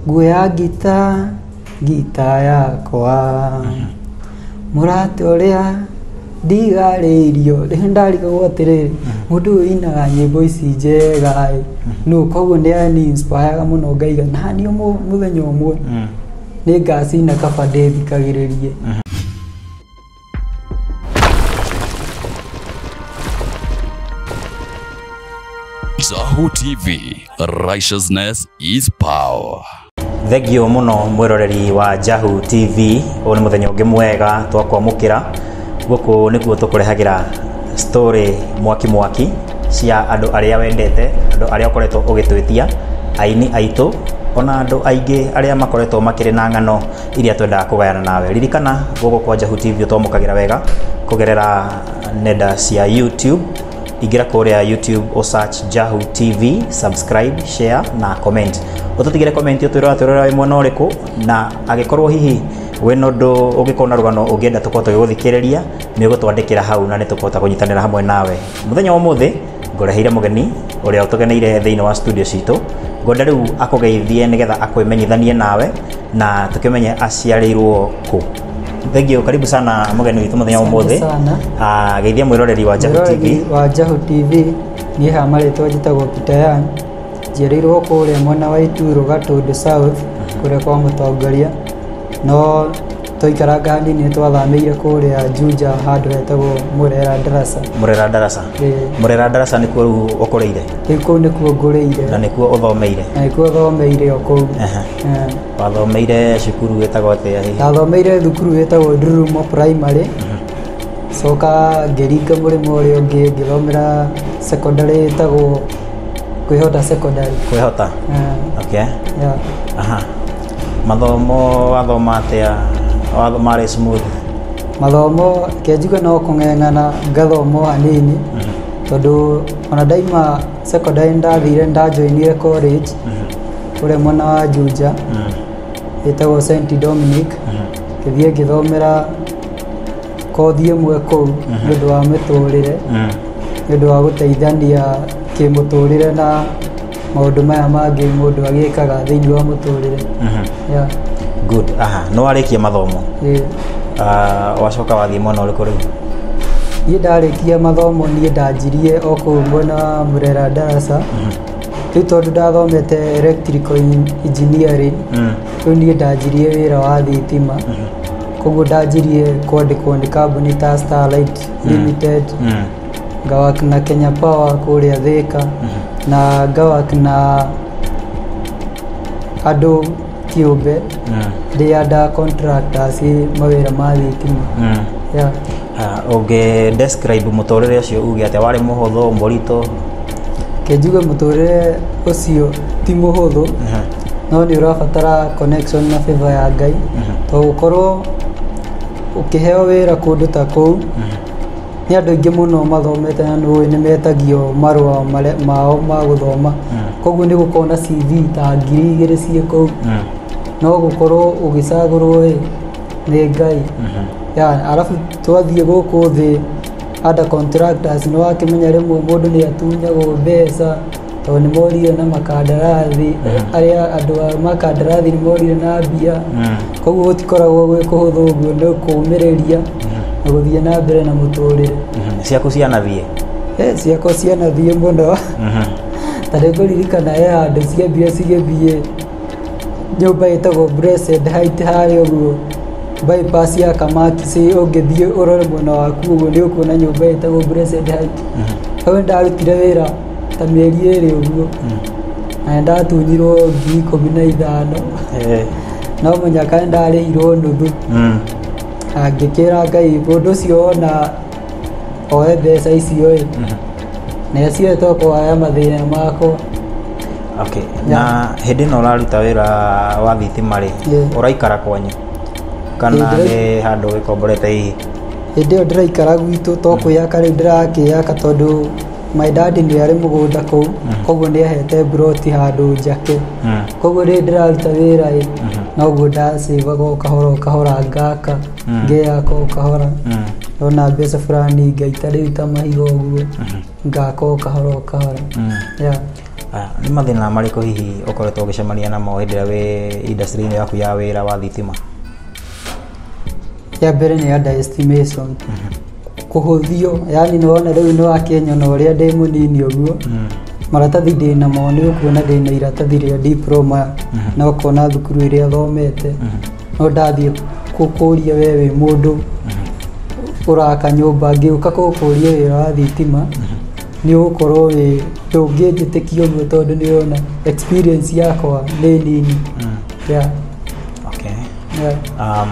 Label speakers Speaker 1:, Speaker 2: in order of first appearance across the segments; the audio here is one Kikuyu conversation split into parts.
Speaker 1: nguoya ngita ngita yakwa mũrata ũrĩa ndigarĩirio rĩu ndarigagwo atĩrĩrĩ mũndũ ũyũ inaga nyĩmbo ici njega ĩ nũ koguo nĩ ani inspiraga mũno ngaiga naniĩ ũmũ- mũthenya ũmwe nĩ ngacina kaba ndĩthikagĩrĩrie
Speaker 2: Sahu TV, righteousness is power. thengio
Speaker 3: muno mwiroreri wa jahu tv ũyũ nĩ mũthenya ũngĩ mwega twakwamũkĩra gũkũ nĩkuo tũkũrehagira story mwaki mwaki cia andũ arĩa wendete andũ arĩa ũkoretwo ũgĩtwĩtia aini aitũ ona andũ aingĩ arĩa makoretwo makĩrĩ na ng'ano iria twendaga kũgayana nawe. Ririkana gũkũ kwa Njahu TV ũtomũkagĩra wega kũgerera nenda cia YouTube. Ingĩra kũrĩa YouTube o search Njahu TV, subscribe, share na comment. Ũtũtigĩre comment ũtwĩrora twĩrora wĩ mwena ũrĩkũ na agĩkorwo hihi wĩna ũndũ ũngĩkorwo na rũgano ũngĩenda tũkorwo tũgĩgũthikĩrĩria nĩ ũgũtwandĩkĩra hau na nĩ tũkũhota kũnyitanĩra hamwe nawe. muthenya wa muthi ngoreheire mugeni uria utugeneire thiini wa studio citu ngwenda riu akugeithie nigetha akwimenyithanie nawe na tukimenye aciarirwo ku thengio karibu sana mugeni witu muthenya wa muthi sana Ah, geithia mwiroreri wa Jahu TV Mwĩroreri wa Jahu TV
Speaker 1: niĩ ha marĩtwa njĩtagwo Peter Young njiarĩirwo kũrĩa mwena wa Ituro Gatũndũ South kũrĩa kwa mũtongoria no Twaikaranga hanini twathamĩire kũrĩa Juja handũ hetagwo Murera Ndarasa. Murera Ndarasa. Murera Ndarasa nĩ kuo rĩu ũkũrĩire? Ĩĩ kũu nĩ kuo ngũrĩire. Na nĩ kuo ũthomeire?
Speaker 3: Na nĩ kuo thomeire
Speaker 1: o kũu. Wathomeire
Speaker 3: cukuru wĩtagwo atĩa hihi? Ndathomeire thukuru
Speaker 1: wĩtagwo Ndururumo Primary. Coka ngĩringa mũrĩmo ũrĩa ũngĩ ngĩthomera secondary ĩtagwo Kwĩhota Secondary. Kwĩhota?
Speaker 3: Okay.
Speaker 1: Aha.
Speaker 3: Mathomo wathoma atĩa? Wathoma arĩ smooth? Mathomo
Speaker 1: kenjuga no kũng'eng'ana ngathomo hanini tondũ ona ndaima secondary ndathire ndajoinire college kũrĩa mwena wa Juja ĩtagwo St Dominic ngĩthiĩ ngĩthomera kothi ĩmwe kũu nĩ ũndũ wa mĩtũrĩre nĩ ũndũ wa gũteithania kĩmũtũrĩre na maũndũ maya mangĩ mũndũ agĩkaga thĩinĩ wa mũtũrĩre yeah. good
Speaker 3: aha nĩ warĩkia mathomo yeah. uh, wacoka wathiĩ mwena ũrĩkũ rĩu niĩ
Speaker 1: ndarĩkia mathomo niĩ ndanjirie o kũu mwena wa mũrera ndaraca rĩu tondũ ndathomete electrical en- engineering Mm. rĩu niĩ ndanjirie wĩra wa thitima koguo ndanjirie kwandĩkwo nĩ kambuni ta starlight limited Mm. ngawa kina Kenya Power kũrĩa Thĩka na ngawa kina andũ kĩũmbe ndĩ under contractors mawĩra ma thitima yeah. ũngĩ
Speaker 3: describe mũtũrĩre ũcio uge atĩa warĩ mũhũthũ mũritũ kĩnjuge
Speaker 1: mũtũrĩre ũcio ti mũhũthũ no nĩ ũrabatara connection na favor ya ngai to gũkorwo ũkĩheo wĩra kũndũ ta kũu Nĩ andũ aingĩ mũno mathomete na nĩũĩ nĩ metagio marũa marĩa mao ma gũthoma koguo nĩ gũkoragwo na CV ta ngiri igĩrĩ ciĩ kũu no gũkorwo ũgĩcagũrwo ĩ nĩ Ngai ya arabu twathiĩ gũkũ thĩ under contractors nĩ wakĩmenya rĩmwe mũndũ nĩ atunyagwo mbeca tondũ nĩ morirwo na makandarathi arĩa andũ a makandarathi nĩ morirwo na mbia koguo gũtikoragwo gwĩ kũhũthũ ũguo nĩ kũũmĩrĩria na gũthiĩ na mbere na mũtũrĩre Mhm. ciaku cianathiĩ
Speaker 3: Eh, ciakwa
Speaker 1: cianathiĩ mũno ta rĩu kũririkana he handũ ciambire cigĩthiĩ nyũmba ĩtagwo Blessed Height harĩa ũguo bypass ya kamati ci ũngĩthiĩ ũrore mwena waku ũguo nĩ ũkuona nyũmba ĩtagwo Blessed Height hau ndarutire wĩra ta mĩeri ĩrĩ ũguo na nĩ ndatunyirwo ngiri ikũmi na ithano Eh, no mũnyaka nĩ ndarĩhirwo nuthu mm. na ngĩkĩra ngai mũndũ ũcio wona oe mbeca icio ĩ na acio to kũhaya mathĩna makwa
Speaker 3: okay. na hĩndĩ ĩno ũraruta wĩra wa thitima rĩ Yeah. ũraikara kwanyu kana Hĩndĩ- nĩ handũ wĩkomborete hihi hĩndĩ ĩyo ndĩraikara
Speaker 1: gwitũ to kwĩyaka rĩu ndĩrakĩyaka tondũ my dad nĩ arĩ mũgũnda kũu koguo nĩ ahete mburoti handũ njake koguo rĩrĩ ndĩraruta wĩra ĩ noguo ndasĩvaga o kahora o kahora ngaka ngeyaka o kahora ndona mbeca fulani ngaita rĩu ta mahiga ũguo ngaka o kahora o kahora yeah. Ah,
Speaker 3: nĩ mathĩna marĩkũ hihi ũkoretwo ũgĩcemania namo hĩndĩ ĩrĩa wĩ industry-inĩ yaku ya wĩra wa thitima
Speaker 1: ya mbere nĩ underestimation kũhũthio yani nĩwona rĩu nĩ wa Kenya na ũrĩa ndĩ mũnini ũguo maratathi ndĩ namo nĩ ũkuona ndĩ na iratathi rĩa diploma na ũkona thukuru ĩrĩa thomete no ndathiĩ kũkũria we wĩ mũndũ ũraka nyũmba ngĩũka kũkũria wĩra wa thitima nĩ ũgũkorwo wĩ ndũngĩnjĩtĩkia ũguo tondũ nĩ ũrona experience yakwa nĩ nini yeah,
Speaker 3: okay. yeah. um,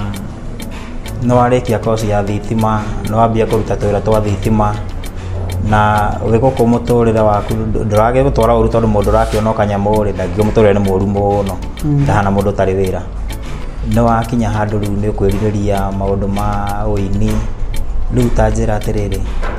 Speaker 3: Nĩ warĩkia koci ya thitima, nĩ wambia kũruta twĩra twa thitima, na wĩ gũkũ mũtũrĩre waku ndũragĩ gũtwara ũru tondũ mũndũ ũrakĩona kanyamũ rĩ ndangĩgĩ mũtũrĩre nĩ mũru mũno ndahana mũndũ ũtarĩ wĩra nĩ wakinya handũ rĩu nĩ ũkwĩrirĩria maũndũ ma ũini rĩu ta njĩra atĩrĩrĩ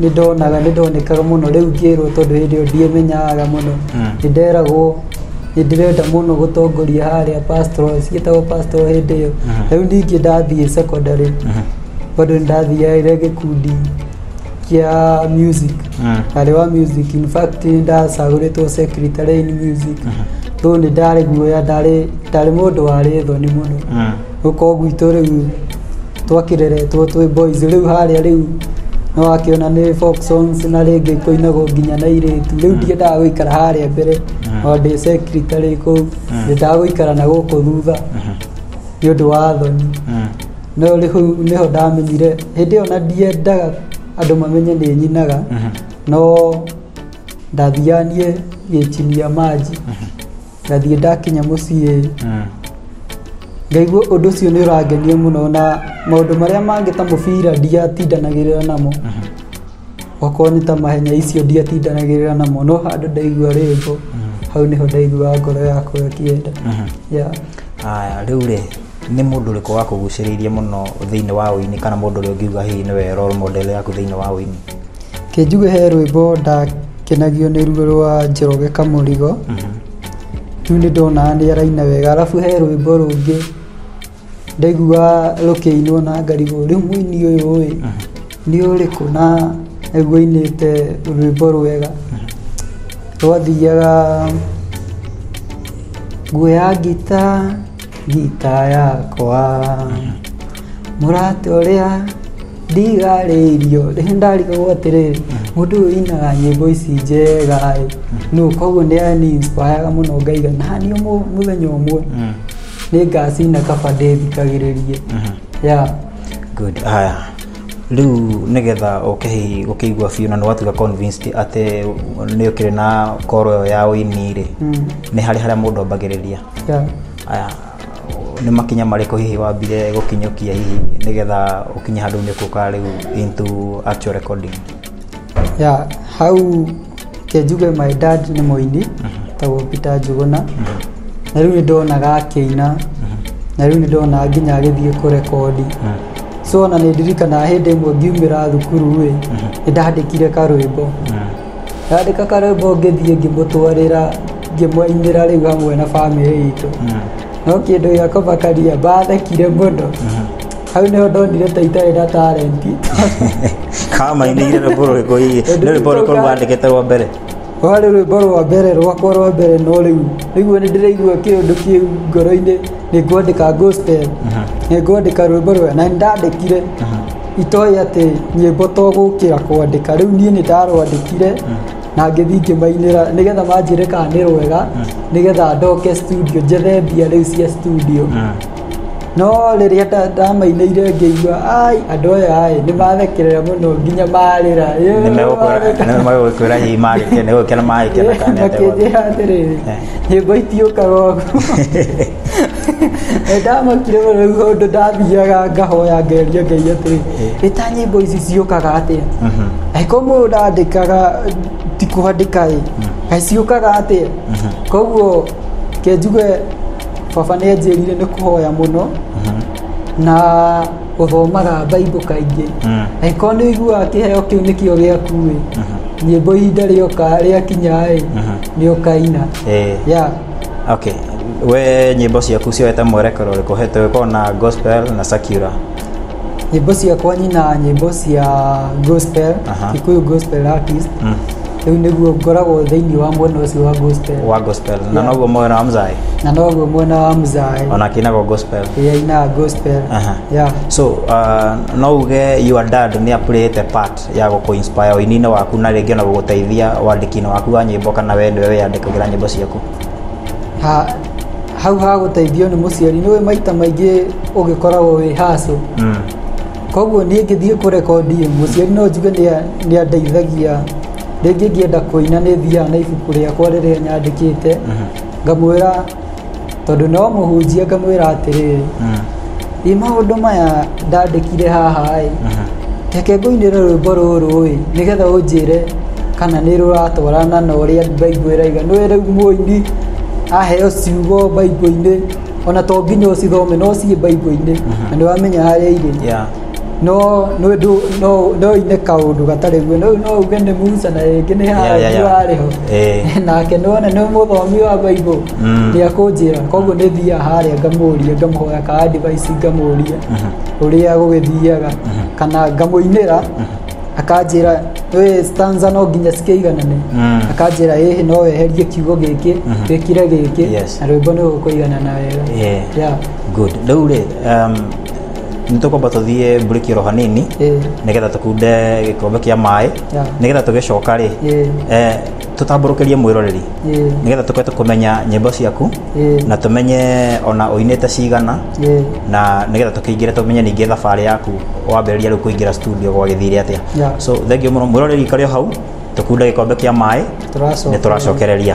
Speaker 1: nĩ ndonaga nĩ ndonekaga mũno rĩu ngĩrwo tondũ hĩndĩ ĩyo ndiĩmenyaga mũno Mm. nĩ nderagwo nĩ ndĩrenda mũno gũtongoria harĩa pastor cigĩtagwo pastor hĩndĩ ĩyo Mhm. rĩu ningĩ ndathiĩ secondary Mhm. bado nĩ ndathiaire gĩkundi kĩa music Mm. arĩ wa music in fact nĩ ndacagũrĩtwo secretary in music rĩu nĩ ndarĩ guoya ndarĩ ndarĩ mũndũ warĩ thoni mũno Mm. Gũkũ gwitũ rĩu twakĩreretwo twĩ boys rĩu harĩa rĩu nĩ wakĩona nĩ folk songs na rĩngĩ kũinagwo nginya na irĩtu rĩu ndiendaga gũikara harĩa mbere o ndĩ secretary kũu ndendaga gũikara na gũkũ thutha nĩ ũndũ wa thoni no rĩu nĩho ndamenyire hĩndĩ ĩyo na ndiendaga andũ mamenye nĩ nyinaga no ndathianiĩ gĩtinia manji ngathiĩ ndakinya mũciĩ ngaigua ũndũ ũcio nĩ ũrangenia mũno na maũndũ marĩa mangĩ ta mũbira ndiatindanagĩrĩra namo okorwo nĩ ta mahenya icio ndiatindanagĩrĩra namo no handũ ndaigua rwĩmbo hau nĩho ndaiguaga ngoro yakwa ĩkĩenda yeah.
Speaker 3: Aya, rĩu rĩ nĩ mũndũ ũrĩkũ wakũgucĩrĩirie mũno thĩinĩ wa ũini kana mũndũ ũrĩa ũngiuga hihi nĩwe role model yaku thĩinĩ wa ũini Kĩnjuge he
Speaker 1: rwĩmbo ndakenagio nĩ ruo rwa Njoroge Kamũrigo rĩu nĩ ndona nĩ araina wega arabu he rwĩmbo rũngĩ ndaigua rũkĩinwo na ngarigwo rĩu mũini ũyũ ĩ nĩ ũrĩkũ na aigua ainĩte rwĩmbo rwega rwathiaga nguoya ngita gita yakwa mũratĩ ũrĩa ndigarĩirio rĩrĩa ndarigagwo atĩrĩrĩ mũndũ ũyũ inaga nyĩmbo ici njega ĩ no koguo nĩ yani inspiraga mũno ngaiga nani ũmwe mũthenya ũmwe nĩ ngacina kaba ndĩthikagĩrĩrie ya
Speaker 3: good haya rĩu nĩgetha ũke hihi gũkĩigua biũ na nĩwatuga convinced atĩ nĩ ũkĩrĩ na koro ĩyo ya ũini rĩ nĩ harĩ harĩa mũndũ ambagĩrĩria Yeah. Aya, nĩ makinya marĩkũ hihi wambire gũkinyũkia hihi nĩgetha ũkinye handũ nĩ kũka rĩu into actual recording ya hau
Speaker 1: kenjuge my dad nĩ mũini tagwo Peter Njuguna na rĩu nĩ ndonaga akĩina na rĩu nĩ ndona nginya agĩthiĩ kũrekondi so ona nĩ ndirikana hĩndĩ ĩmwe ngiumĩra thukuru rĩ nĩ ndandĩkire karwĩmbo Handĩ ka karwĩmbo ngĩthiĩ ngĩmũtwarĩra ngĩmũinĩra rĩu hamwe na bamĩrĩ itũ no kĩndũ gĩa kũmakaria mbathekire mũno hau nĩho ndonire ta itarĩ na talenti
Speaker 3: kamainĩire rwĩmbo rũrĩkũ hihi nĩ rwĩmbo rũrĩkũ rwandĩkĩte rwa mbere rwarĩ rwĩmbo
Speaker 1: rwa mbere rwakwa rwa mbere no rĩu rĩu nĩ ndĩraigua kĩũndũ kĩu ngoro-inĩ nĩ ngwandĩka gospel nĩ ngwandĩka rwĩmbo rwega na nĩ ndandĩkire itoĩ atĩ nyĩmbo to gũkĩra kwandĩka rĩu niĩ nĩ ndarwandĩkire na ngĩthiĩ ngĩmainĩra nĩgetha manjĩre kana nĩ rwega nĩgetha ndoke studio njethe mbia rĩu cia studio no rĩrĩa nda- ndamainĩire ngĩigua ai andũ aya ai nĩ mathekerera mũno nginya marĩra Nĩ megũkwĩra- nĩ
Speaker 3: megũkwĩra hihi magĩkena- nĩ gũgĩkena magĩkena kana nĩ atĩa gwa- makĩnjĩra atĩrĩrĩ
Speaker 1: Eh. nĩ ngũitiũka gogu ndamakire mũno rĩu ũndũ ndathiaga ngahoya ngeria ngai atĩrĩ nĩ ta nyĩmbo ici ciũkaga atĩa angĩkorwo mũndũ ndandĩkaga ti kũandĩka ĩ kaĩ ciũkaga atĩa koguo kenjuge baba nĩ anjĩrire nĩ kũhoya mũno na ũthomaga baibũ kaingĩ angĩkorwo nĩ ũiguaga kĩheo kĩu nĩkĩo gĩakuĩ nyĩmbo ihinda rĩoka rĩakinyaĩ nĩ ũkaina Eh. ya
Speaker 3: okay we nyĩmbo ciaku cioete mwerekero ũrĩkũ hete gũkorwo na gospel na secular nyĩmbo
Speaker 1: ciakwa nyina nyĩmbo cia gospel Aha. gikuyu gospel artist Mm. rĩu nĩguo ngoragwo thĩinĩ wa mwena ũcio wa gospel wa gospel na Yeah. noguo mwena wa
Speaker 3: mzai na noguo mwena wa
Speaker 1: mzae ona kinagwo gospel
Speaker 3: ĩrĩa inaga gospel
Speaker 1: Aha. yeah. so uh,
Speaker 3: no uge your dad nä apurĩte part ya gå kå inspire ũini-inĩ waku na rĩngĩ ona gå gå teithia wandĩki-inĩ waku wa nyĩmbo kana we nĩwe wĩyandĩkagĩra nyĩmbo ciaku ha,
Speaker 1: hau ha gũteithio nĩ mũciari nĩwe maita maingĩ ũgĩkoragwo wĩ hacũ mm. Koguo niĩ ngĩthiĩ kũrekondi mũciari no njuge nĩ andeithagia rĩngĩ ngĩenda kũina nĩ thiaga na ibuku rĩakwa rĩrĩa nyandĩkĩte mhm. ngamwĩra tondũ no mũhunjia ngamwĩra atĩrĩrĩ ĩ mhm. maũndũ maya ndandĩkire haha ĩ mhm. reke ngũinĩre rwĩmbo rũrũ ĩ nĩgetha ũnjĩre kana nĩ rũratwarana na ũrĩa mbaigua ĩraiga nĩ rĩu mũini aheo ciugo mbaigua-inĩ ona to nginya ũcithome no ciĩ baibũ-inĩ na nĩ wamenya harĩa irĩ yeah. no no ndu- no no ine kaundu gatari guo no no uge ni Musa na ringi ni Yeah, yeah, Haruni yeah. wari ho Eh. nake none ni muthomi wa baibo Mm. ni akunjira koguo ni thia haria ngamuria ngamuhoya ka advice ngamuria uria gugithiaga kana ngamuinira akanjĩra we stanza no nginya cikĩiganane Mm. akanjĩra ĩhĩ no weherie kiugo gĩkĩ wĩkire gĩkĩ Yes. na rwĩmbo nĩ ũkũiganana wega Yeah. Yeah. good rĩu
Speaker 3: rĩ um, nĩ tũkwamba tũthiĩ mburĩki oro hanini Eh, nĩgetha tũkunde gĩkombe kĩa maĩ Yeah. nĩgetha tũgĩcoka rĩ Yeah. eh, tũtambũrũkĩrie mwĩroreri Ĩĩ. nĩgetha tũke tũkũmenya nyĩmbo ciaku Ĩĩ. na tũmenye ona ũinĩte cigana Ĩĩ. na nĩgetha tũkĩingĩre tũmenye ningĩ thabarĩ yaku wambĩrĩria rĩu kũingĩra studio gwagĩthire atĩa Yeah. so thengiũ mũno mwĩroreri ikarĩ o hau tũkunda gĩkombe kĩa maĩ Tũracokereria. nĩ tũracokereria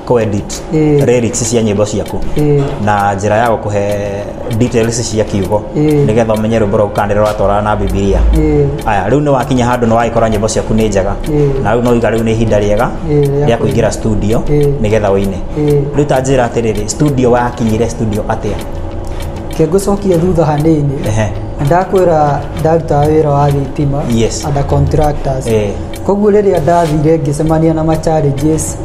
Speaker 3: kuedit Ĩĩ. lyrics cia nyĩmbo ciaku Ĩĩ. na njĩra ya gũkũhe details cia kiugo Ĩĩ. nĩgetha ũmenye rwĩmbo rwa gũkana rĩrĩa rwatwarana na bibilia Ĩĩ. aya rĩu nĩ wakinya handũ nĩ wagĩkora nyĩmbo ciaku nĩ njega Ĩĩ. na rĩu no iga rĩu nĩ ihinda rĩega Ĩĩ, rĩa rĩa kũingĩra studio Ĩĩ. nĩgetha ũine Ĩĩ. rĩu ta njĩra atĩrĩrĩ studio wakinyire studio atĩa ke ngũcokie
Speaker 1: thutha hanini Ehe. ndakwĩra ndarutaga wĩra wa thitima Yes. under contractors Ĩĩ. koguo rĩrĩa ndathire ngĩcemania na ma challenges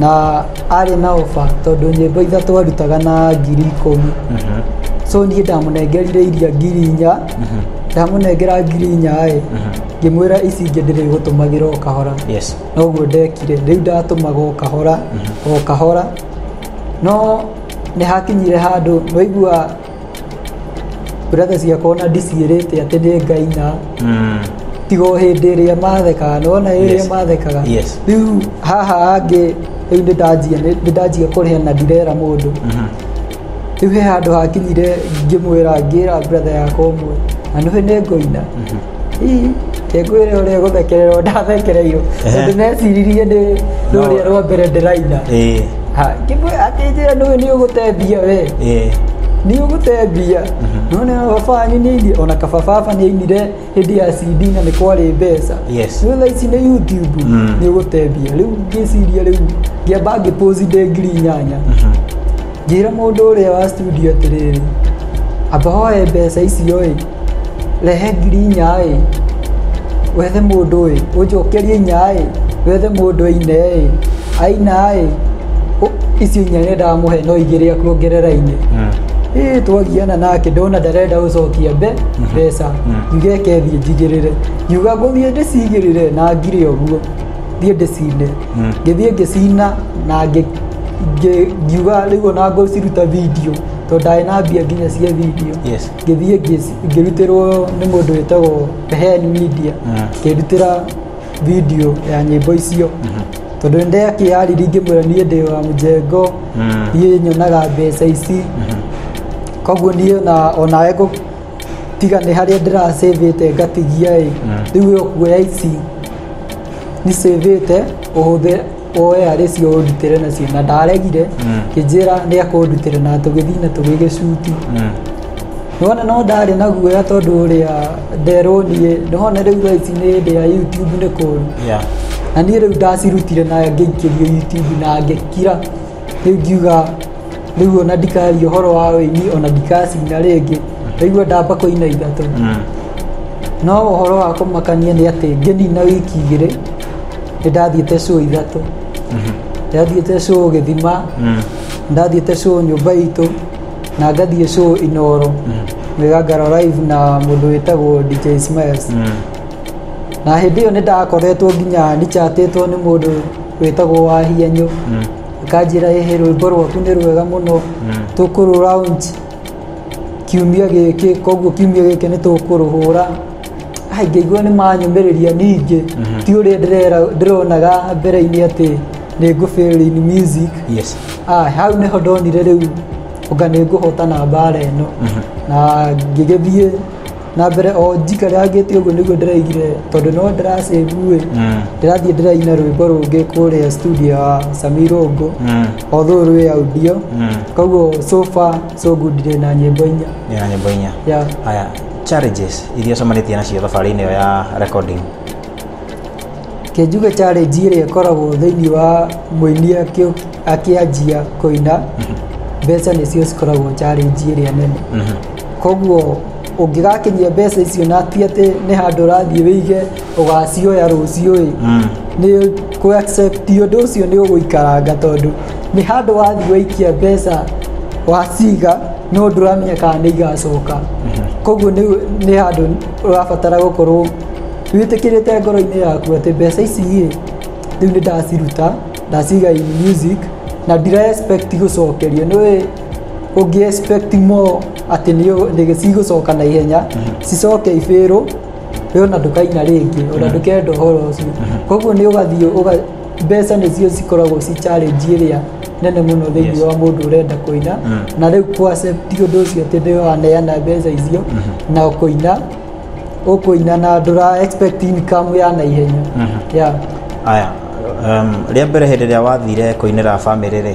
Speaker 1: na arĩ na oba tondũ nyĩmbo itha twarutaga na ngiri ikũmi so niĩ ndamũnengerire iria ngiri inya ndamũnengera ngiri inya ĩ ngĩmwĩra ici ingĩ ndĩrĩgũtũmagĩra o kahora yes noguo ndekire rĩu ndatũmaga o kahora o kahora no nĩ hakinyire handũ waigua Brother ciakwa na ndiciĩrĩte atĩ nĩ ngai na Mm. tigo hĩndĩ ĩrĩa mathekaga nona ĩrĩa Yes. mathekaga Yes. rĩu haha angĩ rĩu nĩ ndanjia nĩ nĩ ndanjia kũrĩa na ndirera mũndũ Mhm. rĩu he handũ hakinyire ngĩmwĩra ngĩra brother yakwa ũmwe na nĩwe nĩ ngoina ngwĩre ũrĩa gũthekererwo ndathekereirwo tondũ neciririe ndĩ rũrĩa rwa mbere ndĩraina akĩnjĩra nũĩ nĩ ũgũte mbia we nĩ ũgũte mbia none baba wanyu nĩ ainie ona kaba baba nĩ ainire hĩndĩ ya cd na nĩ kwarĩ mbeca rĩu thaa ici nĩ
Speaker 3: youtube
Speaker 1: nĩ ũgũte mbia rĩu ngĩciria rĩu ngĩamba ngĩpũzi ndĩ ngiri inyanya ngĩra mũndũ ũrĩa wa studio atĩrĩrĩ amba hoe mbeca icio ĩ Rehe ngiri inya ĩ, wethe mũndũ ĩ, ũnjokerie inya ĩ, wethe mũndũ aine ĩ, aina ĩ, ũ- icio inya nĩ ndamũhe no igĩrĩ akuongerera-inĩ ĩ twagiana nake ndona ndarenda gũcokia mbe mbeca ngiuga eke thiĩ njigĩrĩre ngiuga ngũthiĩ ndĩcigĩrĩre na ngire ũguo thiĩ ndĩcine ngĩthiĩ ngĩcina na ngĩ- ngĩ- ngiuga rĩu ona ngũciruta video tondũ ndarĩ na mbia nginya cia video Yes. ngĩthiĩ ngĩci- ngĩrutĩrwo nĩ mũndũ wĩtagwo Hel Media ngĩrutĩra video ya nyĩmbo icio tondũ nĩndĩ akĩyariri ngĩmwĩra niĩ ndĩ wa mũjengo niĩ nyonaga mbeca ici koguo niĩ na onawe ngũ- tiga nĩ harĩa ndĩracĩvĩte ngatigia ĩ rĩu ĩyo kuoya ici nĩ cĩvĩte ũhũthĩre oe arĩ cio ũndutĩre nacio na ndaregire Mm. kĩnjĩra nĩ akũndutĩre na tũgĩthiĩ na tũgĩgĩcuti Mm. nona no ndarĩ na guoya tondũ ũrĩa nderwo niĩ nona rĩu thaa ici nĩ hĩndĩ ya youtube nĩ kũru Yeah. na niĩ rĩu ndacirutire na ngĩikĩrio youtube na ngĩkira rĩu ngiuga rĩu ona ndikaria ũhoro wa ũini ona ndikacina rĩngĩ rĩu ndamba kũina ithatũ Mm. no ũhoro wa kũmakania nĩ atĩ ngĩnina wiki igĩrĩ ndathiĩte show ithatũ ndathiĩte show gĩthima ndathiĩte show nyũmba itũ na ngathiĩ show inoro mĩgangaro live na mũndũ wĩtagwo dj smiles na hĩndĩ ĩyo nĩ ndakoretwo nginya nichatĩtwo nĩ mũndũ wĩtagwo wahianyũ akanjĩra ĩhĩ rwĩmbo rwaku nĩ rwega mũno tũkũrũ round kiumia gĩkĩ koguo kiumia gĩkĩ nĩ tũkũrũhũra haingĩiguo nĩ manyũmĩrĩria ningĩ ti ũrĩa ndĩrera- ndĩronaga mbere-inĩ atĩ nĩ ngũbĩrĩra in music yes Ah, hau nĩho ndonire rĩu ũga nĩ ngũhotana mbara ĩno na ngĩgĩthiĩ na mbere o njika rĩa ngĩte ũguo nĩguo ndĩraigire tondũ no ndĩracĩvuĩ Mm. ndĩrathiĩ ndĩraina rwĩmbo rũngĩ kũrĩa studio ya samirongo Mm. although rwĩ audio Mm. koguo sofa so good ndĩ na nyĩmbo inya nina nyimbo inya ya haya
Speaker 3: Challenges iria ũcemanĩtie nacio thabarĩ-inĩ ĩyo ya recording. Ke
Speaker 1: njuge challenge ĩrĩa ĩkoragwo thĩinĩ wa mũini akĩ- akĩanjia kũina mbeca nĩcio cikoragwo challenge ĩrĩa nene koguo ũngĩgakinyia mbeca icio na ti atĩ nĩ handũ ũrathiĩ wĩige ũgacioya rũciũ-ĩ nĩ kũ accept ũndũ ũcio nĩ ũgũikaranga tondũ nĩ handũ wathiĩ waikia mbeca waciga no ndũramenya kana nĩ igacoka koguo nĩ nĩ handũ ũrabatara gũkorwo wĩtĩkĩrĩte ngoro-inĩ yaku atĩ mbeca ici-ĩ rĩu nĩ ndaciruta ndaciga in music na ndira expect gũcokerio nĩũĩ ũngĩ expect more atĩ nĩ nĩ cigũcoka na ihenya cicoke ibĩrwo we ona ndũkaina rĩngĩ ona ndũkenda ũhoro ũcio koguo nĩ ũgathiĩ ũga- mbeca nĩcio cikoragwo ci challenge ĩrĩa nene mũno thĩinĩ Yes. wa mũndũ ũrenda kũina Mm. na rĩu kũaccepti ũndũ ũcio atĩ nĩ waneana mbeca icio na kũina ũkũina na ndũra expect income ya naihenya yeah. aya
Speaker 3: um, rĩa mbere hĩndĩ ĩrĩa wathire kũinĩra bamĩrĩ rĩ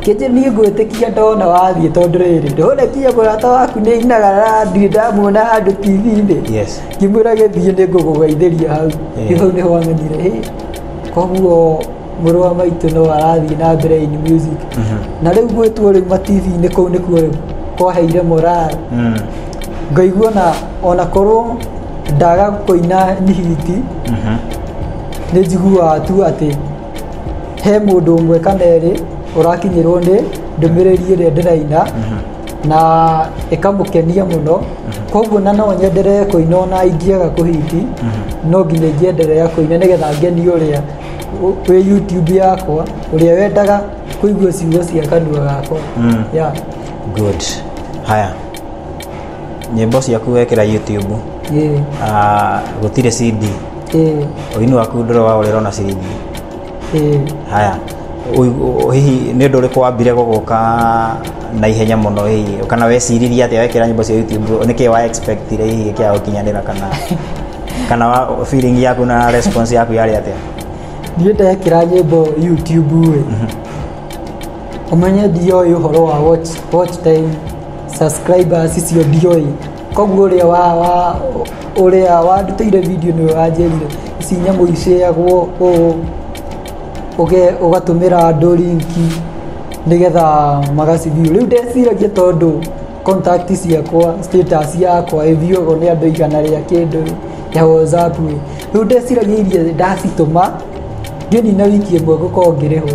Speaker 1: Kĩnjĩ niĩ ngwĩtĩkia ndona wathiĩ tondũ rĩrĩ ndona kia mũrata waku nĩ inaga randuĩ ndamuona handũ TV-inĩ Yes. ngĩmwĩra gĩthiĩ nĩ ngũgũgeithĩria hau Eh. rĩu hau nĩho wamenyire "Ĩ, koguo mũrũ wa maitũ no arathiĩ na mbere in music na rĩu gwĩtwo rĩu mativi-inĩ kũu nĩkuo rĩu kwaheire morale Mm. ngaigua na ona korwo ndaga kũina nihiti Mhm. nĩ njiguaga tu atĩ he mũndũ ũmwe kana erĩ ũrakinyĩrwo nĩ ndũmĩrĩri ĩrĩa ndĩraina na ĩkamũkenia mũno koguo na no nyenderee kũina ona ingĩaga kũhiti no nginya ingĩenderea kũina nĩgetha ngenie ũrĩa ũ- wĩ youtube yakwa ũrĩa wendaga kũigua ciugo cia kanua gakwa yeah.
Speaker 3: good haya nyĩmbo ciaku wekĩra youtube yeah. Ah, gũtirĩ cd Eh, ũini waku ndũrĩ wa ũrĩra ona ciringi eh. haya ũigu- ũ- hihi nĩ ũndũ ũrĩkũ wambire gũgũka na ihenya mũno hihi kana weciririe atĩa wekĩra nyĩmbo cia youtube nĩ kĩĩ wa expectire hihi kĩa gũkinyanĩra kana kana wa feeling yaku na response yaku yarĩ atĩa niĩ ndekĩra
Speaker 1: nyĩmbo youtube ĩ ũmenye ndioĩ ũhoro wa watch, watch time subscribers icio ndioĩ koguo ũrĩa wa wa ũrĩa wandutĩire video nĩwe wanjĩrire ici nyamũ icĩagwo ũũ ũge- ũgatũmĩra andũ linki nĩgetha magacibiũ rĩu ndeciragia tondũ contact ciakwa status yakwa ĩthiũgwo nĩ andũ igana rĩa kĩndũ ya whatsapp ĩ. rĩu ndeciragia iria ndacitũma ngĩnina wiki ĩmwe gũkorwo ngĩrĩhwo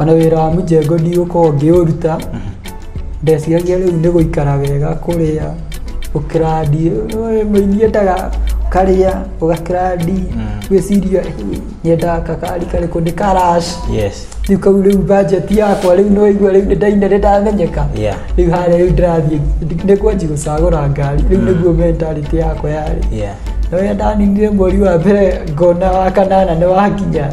Speaker 1: Ona wĩra wa mũjengo ndigũkorwo ngĩũruta ndeciragia rĩu nĩ gũikara wega kũrĩa ũkĩrandi ũĩ, mũini endaga ũkarĩa ũgakĩrandi wĩciria "Ĩ, nyendaga kakari karĩkũ nĩ karash yes rĩu kau rĩu bajeti yakwa rĩu nĩ waigua rĩu nĩ ndaina nĩ ndamenyeka Yeah. rĩu harĩa rĩu ndĩrathiĩ nĩ kwanji gũcagũra ngari rĩu nĩguo mentality yakwa yarĩ yeah na wenda ninire mweri wa mbere ngona wa kanana nĩ wakinya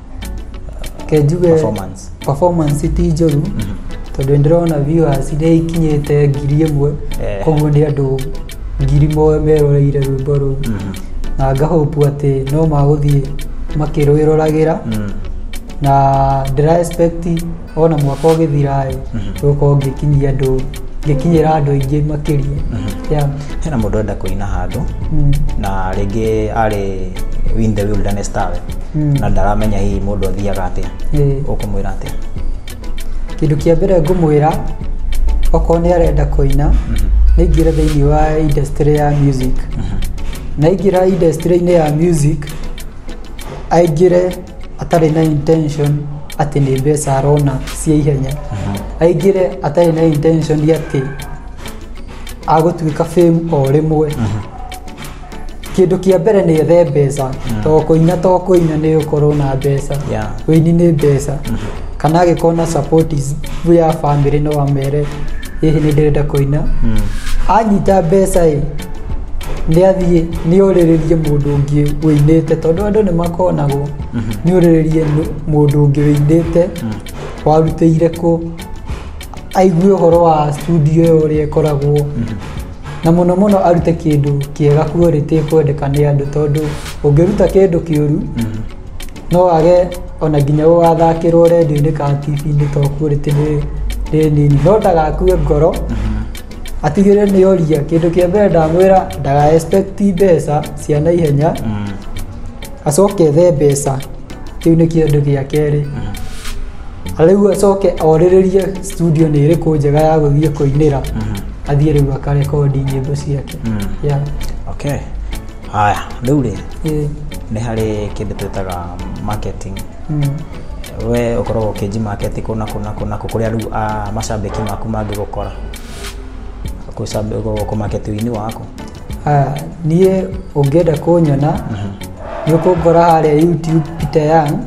Speaker 3: reke
Speaker 1: njuge performance performance ti njũru tondũ ndĩrona viewers iria ikinyĩte ngiri ĩmwe Eh. koguo nĩ andũ ngiri moe meroreire rwĩmbo rũu na ngahopu atĩ no magũthiĩ makĩrwĩroragĩra Mm. na ndĩra expect ona mwaka ũgĩthiraĩ gũkorwo ngĩkinyia andũ ngĩkinyĩra andũ aingĩ makĩria Yeah. hena mũndũ enda
Speaker 3: kũina handũ Mm. na rĩngĩ arĩ win the wilderness tawe Mm. na ndaramenya hihi mũndũ athiaga atĩa Ĩĩ. ũkũmwĩra atĩa
Speaker 1: kĩndũ kĩa mbere ngũmwĩra okorwo nĩ arenda kũina naingĩra thĩinĩ wa industry ya music naingĩra industry-inĩ ya music aingĩre atarĩ na intention atĩ nĩ mbeca arona cia ihenya aingĩre atarĩ na intention atĩ agũtuĩka fame o rĩmwe kĩndũ kĩa mbere nĩ ethe mbeca to kũina to kũina nĩ ũkorwo na mbeca Yeah. ũini nĩ mbeca kana agĩkorwo na support is- ya family no amere hihi nĩ ndĩrenda kũina anyita mbeca ĩ nĩ athiĩ nĩ orĩrĩrie mũndũ ũngĩ wĩinĩte tondũ andũ nĩ makonagwo nĩ orĩrĩrie nũ- mũndũ ũngĩ wĩinĩte warutĩire kũ aigue ũhoro wa studio ĩyo ũrĩa ĩkoragwo na mũno mũno arute kĩndũ kĩega quality kwendeka nĩ andũ tondũ ũngĩruta kĩndũ kĩũru no wage ona nginya gũgathakĩrwo rendio-inĩ kana TV-inĩ to quality nĩ nĩ nini no ndagakue ngoro atigĩrĩre nĩ oria kĩndũ kĩa mbere ndamwĩra ndaga expect mbeca cia na ihenya acoke ethe mbeca kĩu nĩ kĩndũ gĩa kerĩ rĩu acoke orĩrĩrie studio nĩ ĩrĩkũ njega ya gũthiĩ kũinĩra athiĩ rĩu akarekondi nyĩmbo ciake yeah. okay
Speaker 3: Haya, rĩu rĩ Eh, nĩ harĩ kĩndũ twĩtaga marketing mm, we ũkoragwo ũkĩnji market kũ na kũ na kũ na kũ kũrĩa rĩu ah, macambĩki maku mangĩgũkora Kũcambe- gũ- kũ market wini waku ah,
Speaker 1: niĩ ũngĩenda kũnyona nĩ ũkũngora harĩa youtube peter young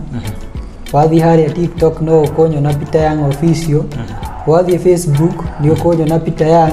Speaker 1: wathiĩ harĩa tiktok no ũkũnyona peter young official wathiĩ facebook nĩ ũkũnyona peter young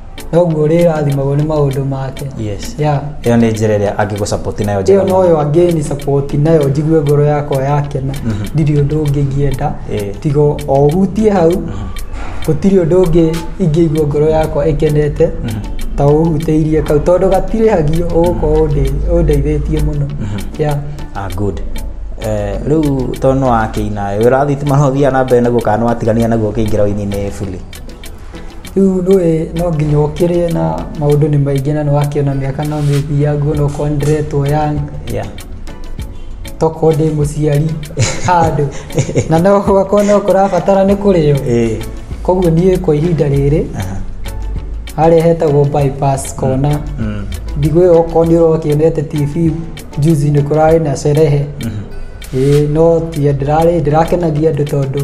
Speaker 1: noguo ũrĩrathimagwo nĩ maũndũ make yes yeah. ĩyo
Speaker 3: nĩ njĩra
Speaker 1: ĩrĩa
Speaker 3: angĩgũcapoti nayo njega ĩyo mũno. noyo angĩni
Speaker 1: sapoti nayo njigue ngoro yakwa yakena ndirĩ ũndũ ũngĩ ingĩenda Eh. tiga o ũhutie hau gũtirĩ ũndũ ũngĩ ingĩigua ngoro yakwa ĩkenete ta ũhutĩirie kau tondũ gatirĩhagio ũgũkorwo ũndĩ- ũndeithĩtie mũno Yeah. ah, good
Speaker 3: Eh, rĩu tondũ nĩ wakĩina wĩra wa thitima no ũthiaga na mbere naguo kana nĩ watigania naguo ũkĩingĩra ũini-inĩ buli Rĩu
Speaker 1: ndũĩ no nginya ũkĩrĩe na maũndũ nĩ maingĩ na nĩ wakĩona mĩaka no mĩthiangu ona okorwo nĩ ndĩretwo young yeah. tokorwo ndĩ mũciari handũ na no gwakorwo no kũrabatara nĩ kũrĩo eh, koguo niĩ kwa ihinda rĩrĩ aha, harĩa hetagwo bypass kona mm, ndigũ ĩyo okorwo nĩ ũrokĩonete tv juzi nĩ kũrarĩ na sherehe mhm. ĩĩ no tiĩ ndĩrarĩ ndĩrakenagia andũ tondũ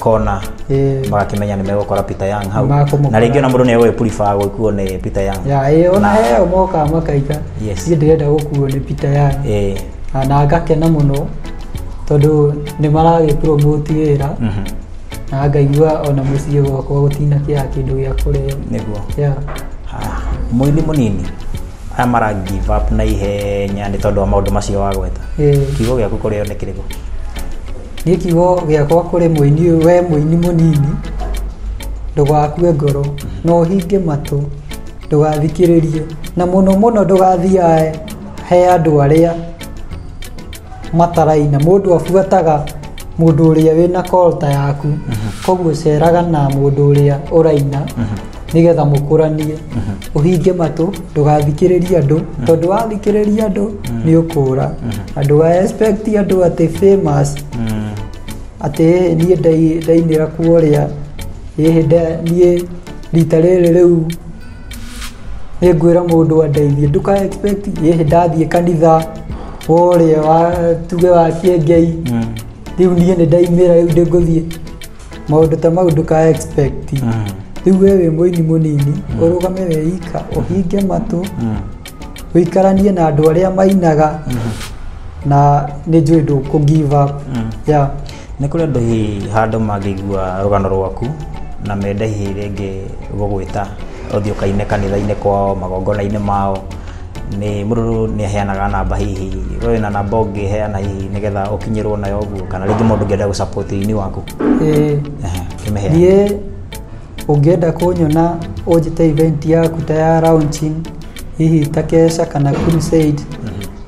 Speaker 3: kona Eh. magakĩmenya nĩ megũkora Peter Young hau Makũmũkora. na rĩngĩ ona mũndũ nĩ egũgĩ purifaa gũkuo nĩ Peter Young ya ĩ ona Na- heo
Speaker 1: mokaga makainga Yes. niĩ ndĩrenda gũkuo nĩ pita yani Eh, na na ngakena mũno tondũ nĩ maragĩpromote wĩra mhm, na ngaigua ona mũciĩ gwakwa gũtina kĩa kĩndũ gĩa kũrĩa nĩguo ya
Speaker 3: Ah, mũini mũnini aya mara give up na ihenya nĩ tondũ wa maũndũ macio wagweta Eh. kiugo gĩaku kũrĩ one kĩrĩkũ nĩ
Speaker 1: kiugo gĩakwa kũrĩ mũini ũyũ, we mũini mũnini ndũgakue ngoro na ũhinge matũ ndũgathikĩrĩrie na mũno mũno ndũgathiae he andũ arĩa mataraina mũndũ abuataga mũndũ ũrĩa wĩna kolta yaku koguo ceraga na mũndũ ũrĩa ũraina nĩgetha mũkũranie ũhinge matũ ndũgathikĩrĩrie andũ tondũ wathikĩrĩria andũ nĩ ũkũra na ndũgaexpect andũ atĩ famous atĩ "Ĩ, niĩ ndai- ndainĩra kuo ũrĩa ĩ, nda- niĩ rita rĩrĩ rĩu nĩ ngwĩra mũndũ andeithie ndũka expect ĩhĩ ndathiĩ kanitha worĩa wa tuge wa kĩengei rĩu niĩ nĩ ndaimĩra rĩu ndĩngũthiĩ maũndũ ta mau ndũka expect rĩu we wĩ mũini mũnini ũrũgame weika ũhinge matũ ũikaranie na andũ arĩa mainaga na nĩ njũĩ ndũkũ give up yeah. Nĩ kũrĩ andũ
Speaker 3: hihi handũ mangĩigua rũgano rwaku na mende hihi rĩngĩ gũgwĩta ũthiĩ ũkaine kanitha-inĩ kwao, magongona-inĩ mao, nĩ mũndũ nĩ aheanaga namba hihi, we wĩ na namba ũngĩheana hihi nĩgetha ũkinyĩrwo nayo ũguo kana rĩngĩ mũndũ ũngĩenda gũ support ũini waku? Ĩĩ, Ehe, kĩmĩheane. niĩ
Speaker 1: ũngĩenda kũnyona ũnjĩte event yaku ta ya launching hihi ta keca kana crusade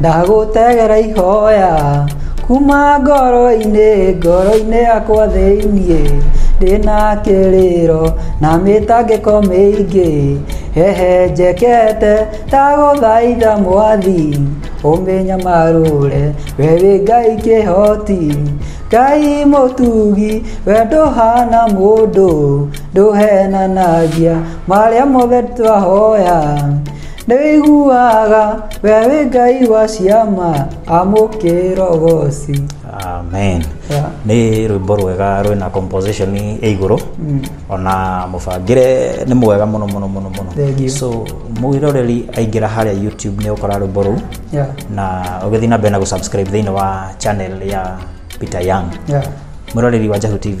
Speaker 3: ndagũtegera
Speaker 1: ihoya kuma ngoro-inĩ ngoro-inĩ yakwa thĩiniĩ ndĩna kĩrĩro na mĩtangĩko mĩingĩ hehe njekete ndagũthaitha mwathi ũmĩnyamarũre we wĩ ngai kĩhoti ngai mũtugi we ndũhana mũndũ ndũhenanagia marĩa mothe twahoya Nĩwĩiguaga we wĩ ngai wa ciama amũkĩra ũgoci amen
Speaker 3: Yeah. nĩ rwĩmbo rwega rwĩna composition ĩ igũrũ ona mũbangĩre nĩ mwega mũno mũno mũno mũno Thank you. so mwĩroreri aingĩra harĩa youtube nĩ ũkora rwĩmbo rũu Yeah. na ũgĩthiĩ na mbere na gũsubscribe thĩinĩ wa channel ya peter young Yeah. mwĩroreri wa jahu tv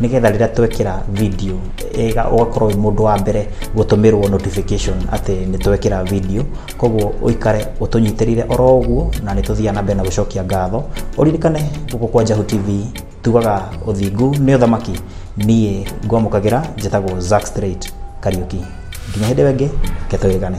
Speaker 3: nĩgetha rĩrĩa twekĩra video ĩga ũgakorwo wĩ mũndũ wa mbere gũtũmĩrwo notification atĩ nĩ twekĩra video koguo ũikare ũtũnyitĩrĩire oro ũguo na nĩ tũthiaga na mbere na gũcokia ngatho ũririkane gũkũ kwa Njahu TV tugaga ũthingu nĩ ũthamaki niĩ ngwamũkagĩra njĩtagwo Zack Straight Kariuki nginya hĩndĩ ĩngĩ ke tũrĩgane